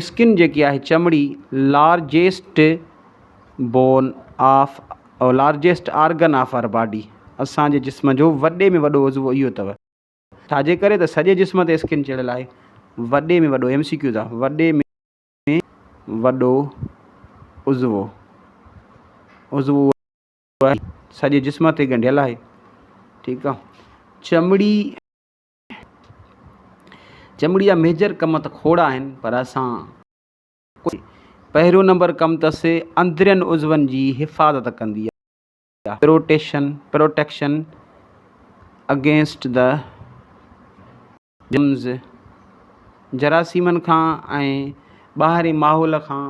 Skin جيڪي آهي چمڙي largest bone of largest organ of our body اسان جي جسم جو وڏي ۾ وڏو عضوو اهو اٿو. ڇاجي ڪري ته سڄي جسم تي اسڪن چڙهيل آهي. وڏي ۾ وڏو ايم سي ڪيوز آ وڏي ۾ وڏو عضوو عضوو اهو آهي سڄي جسم تي ڳنڍيل آهي ٺيڪ آ چمڙي. چمڙي جا ميجر ڪم ته کوڙ آهن پر اسان ڪوئي پهريون نمبر ڪم ته سي اندرين عضون جي حفاظت ڪندي آهي protection protection against the germs جراثيمن کان ۽ ٻاهرين ماحول کان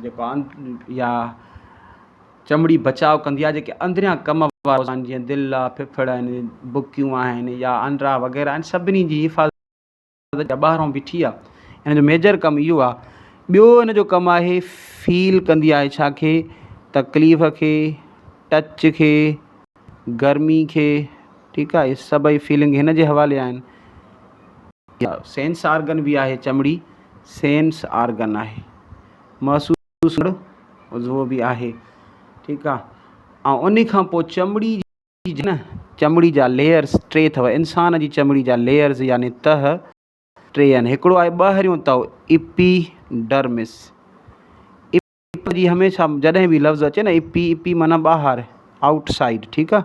جيڪو يا چمڙي بچاء ڪندي آهي جيڪي اندريان ڪم وارا اوزان جيئن دل آهي، ڦڦڙ آهن، بڪيون آهن يا انڊرا وغيره آهن سڀني جي حفاظت جا ٻاهران بيٺي آهي ان جو ميجر ڪم اهو آهي. ٻيو ان جو ڪم آهي فيل ڪندي آهي ڇا کي تڪليف کي ٽچ کي گرمي کي ٺيڪ آهي اهي سڀئي فيلنگ هن جي حوالي آهن. سينس آرگن به آهي چمڙي سينس آرگن آهي محسوس جو سنگهڙ عضوو به آهي ٺيڪ آ ۽ انهي کان پوء چمڙي جي نه چمڙي جا ليئرز ٽي اٿو انسان جي چمڙي جا ليئرز يعني تهه ٽي آهن هڪڙو آهي ٻاهريون تهه ايپي ڊرمس ايپي جي هميشه جڏهن به لفظ اچي نه ايپي ايپي معنيٰ ٻاهر آئوٽ سائيڊ ٺيڪ آ.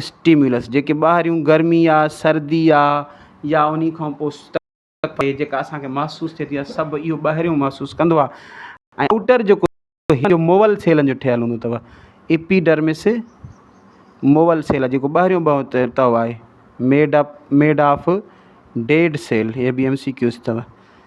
اسٽيمولس جيڪي ٻاهريون گرمي آ سردي آ يا انهي کان پوء تپ جيڪا اسان کي محسوس ٿئي ٿي يا سڀ اهو ٻاهريون محسوس ڪندو آ ۽ آئوٽر جيڪو جو موول سيلن جو ٺهيل هوندو اٿو ايپيڊرمس موول سيل جيڪو ٻاهريون ٻهو تهه آهي made up made of dead cell هي به ايم سي ڪيوز اٿو